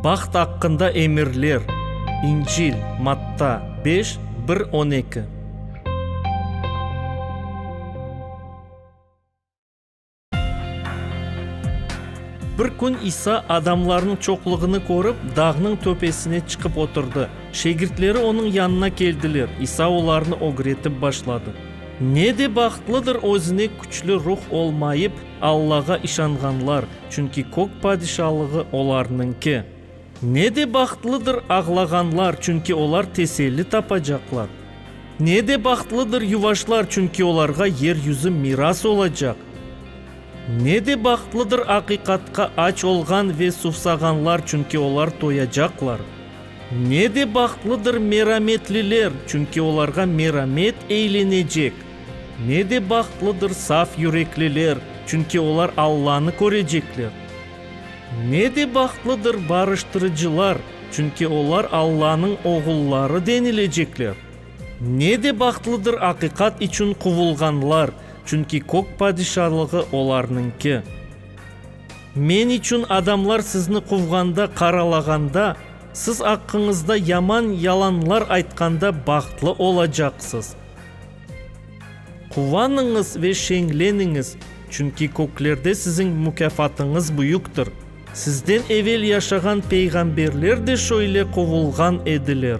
Baht aqqında emirler, İncil, Matta, beş, bir, on eki. Bir kün İsa adamlarnıñ çoqluğını körip, dağnıñ töpesine çıqıp oturdı. Şegirtleri onıñ yanına keldiler, İsa olarnı ögretip başladı. Ne de bahtlıdır özüne küçlü ruh olmayıp, Allağa işanğanlar, çünki kök padişalığı olarnıñki. Ne de bahtlıdır ağlağanlar, çünki olar teselli tapacaqlar. Ne de bahtlıdır yuvaşlar, çünki olarğa yer yüzü miras olacaq. Ne de bahtlıdır aqiqatqa aç olğan ve suvsağanlar, çünki olar toyacaqlar. Ne de bahtlıdır merametliler, çünki olarğa meramet eylenecek! Ne de bahtlıdır saf yürekliler, çünki olar Allanı körecekler! Ne de bahtlıdır barıştırıcılar, çünki olar Allanıñ oğulları denilecekler! Ne de bahtlıdır aqiqat içün quvulğanlar, çünki Kök Padişalığı olarnıñki! Men içün adamlar sizni quvğanda, qaralağanda, siz aqqıñızda yaman yalanlar aytqanda bahtlı olacaqsız. Quvanıñız ve şeñleniñiz, çünki köklerde siziñ mukâfatıñız büyüktir. Sizden evel yaşağan peyğamberler de şöyle quvulğan ediler.